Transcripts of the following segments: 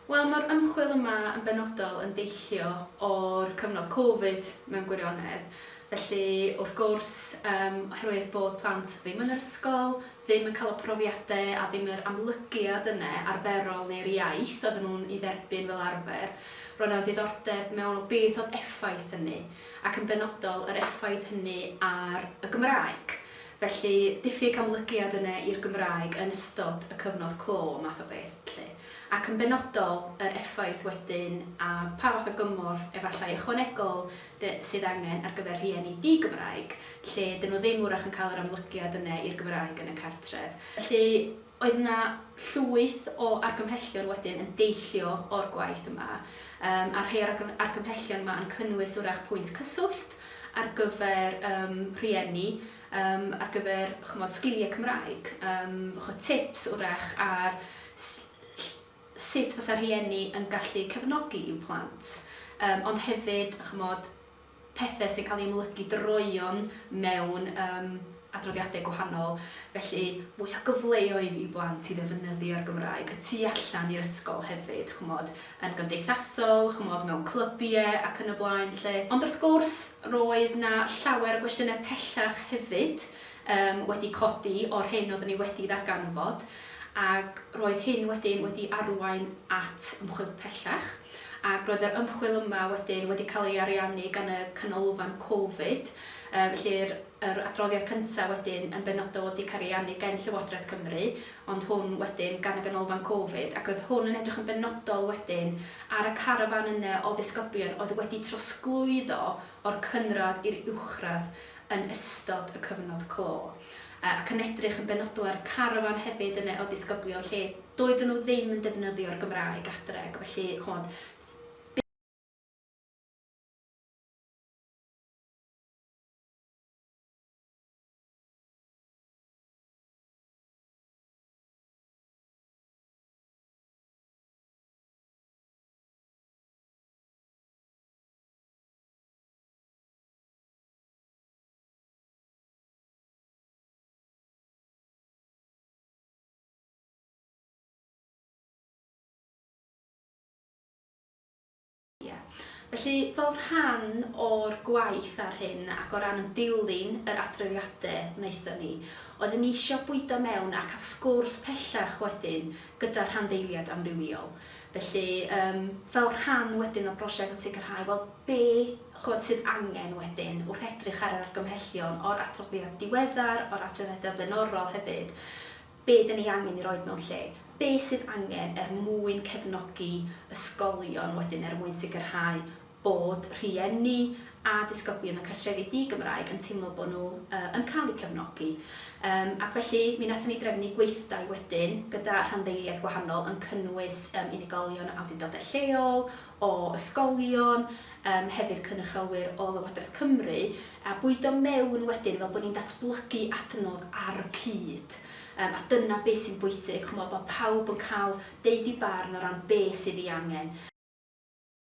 Wel, mae'r ymchwil yma yn benodol yn deillio o'r cyfnod Covid mewn gwirionedd. Felly, wrth gwrs, yym, oherwydd bod plant ddim yn yr ysgol, ddim yn cael y profiadau a ddim yr amlygiad yna arferol i'r iaith oedden nhw'n ei dderbyn fel arfer, roedd 'na ddiddordeb mewn o beth oedd effaith hynny, ac yn benodol yr effaith hynny ar y Gymraeg. Felly, diffyg amlygiad yne i'r Gymraeg yn ystod y cyfnod clo, math o beth, 'lly. Ac yn benodol, yr effaith wedyn, a pa fath o gymorth, efallai ychwanegol, de, sydd angen ar gyfer rhieni di-Gymraeg, lle 'dyn nhw ddim wrach yn cael yr amlygiad yne i'r Gymraeg yn y cartref. Felly, Oedd yna llwyth o argymhellion wedyn yn deillio o'r gwaith yma, yym, a rhei o'r argymhellion yma yn cynnwys, wrach, pwynt cyswllt ar gyfer yym rhieni, yym, ar gyfer, ch'mod, sgiliau Cymraeg, yym, ch'mod, tips, wrach, ar s- ll- sut fysa rhieni yn gallu cefnogi i'w plant, yym, ond hefyd, ch'mod, pethau sy'n cael eu ymlygu droeon mewn yym adroddiadau gwahanol, felly mwy o gyfleoedd i blant i ddefnyddio'r Gymraeg y tu allan i'r ysgol hefyd, ch'mod, yn gymdeithasol, ch'mod, mewn clybiau ac yn y blaen 'lly. Ond wrth gwrs, roedd 'na llawer o gwestiynau pellach hefyd yym wedi codi o'r hyn oeddwn i wedi ddarganfod, ac roedd hyn wedyn wedi arwain at ymchwil pellach, ac roedd yr ymchwil yma wedyn wedi cael ei ariannu gan y Canolfan Covid, felly yr adroddiad cyntaf wedyn yn benodol wedi cael ei ariannu gen Llywodraeth Cymru, ond hwn wedyn gan y Ganolfan Covid, ac oedd hwn yn edrych yn benodol wedyn ar y carafán yna o ddisgyblion oedd wedi trosglwyddo o'r cynradd i'r uwchradd yn ystod y cyfnod clo. ac yn edrych yn benodol ar y carafan hefyd yna o ddisgyblion lle doedden nhw ddim yn defnyddio'r Gymraeg adre ac felly ch'mod Felly, fel rhan o'r gwaith ar hyn ac o ran yn dilyn yr adroddiade wnaethon ni, oeddwn ni isio bwydo mewn a cael sgwrs pellach wedyn gyda rhanddeiliaid amrywiol. Felly, yym, fel rhan wedyn o brosiect sicrhau, wel, be, ch'mod, sydd angen wedyn wrth edrych ar yr argymhellion o'r adroddiad diweddar, o'r adroddiadau blaenorol hefyd, be 'dan ni angen 'i roid mewn lle? Be sydd angen er mwyn cefnogi ysgolion wedyn er mwyn sicrhau bod rhieni a disgyblion y cartrefi di-Gymraeg yn teimlo bod nhw yn cael eu cefnogi. Yym ac felly mi wnaethon ni drefnu gweithdai wedyn gyda rhanddeiliaid gwahanol yn cynnwys yym unigolion o awdurdodau lleol, o ysgolion, yym hefyd cynrychiolwyr o Lywodraeth Cymru a bwydo mewn wedyn fel bod ni'n datblygu adnodd ar y cyd. Yym a dyna be sy'n bwysig, chimod, bod pawb yn cael deud eu barn o ran be sydd ei angen.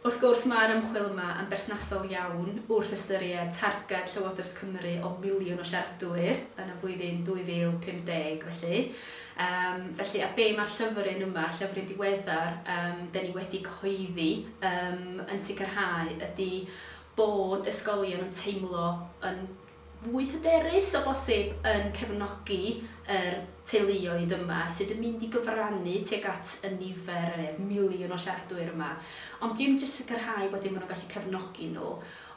Wrth gwrs, mae'r ymchwil yma yn berthnasol iawn wrth ystyried targed Llywodraeth Cymru o filiwn o siaradwyr yn y flwyddyn 2050 felly. Yym, felly, a be mae'r llyfryn yma, llyfryn diweddar yym 'dyn ni wedi cyhoeddi yym yn sicrhau ydy bod ysgolion yn teimlo yn fwy hyderus o bosib yn cefnogi yr teuluoedd yma sydd yn mynd i gyfrannu tuag at y nifer, y miliwn o siaradwyr yma, ond dim jyst sicrhau bod dim maen nhw'n gallu cefnogi nhw,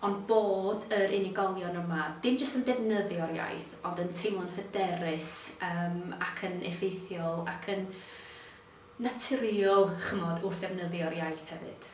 ond bod yr unigolion yma, dim jyst yn defnyddio'r iaith, ond yn teimlo'n hyderus yym ac yn effeithiol ac yn naturiol, chimod, wrth ddefnyddio'r iaith hefyd.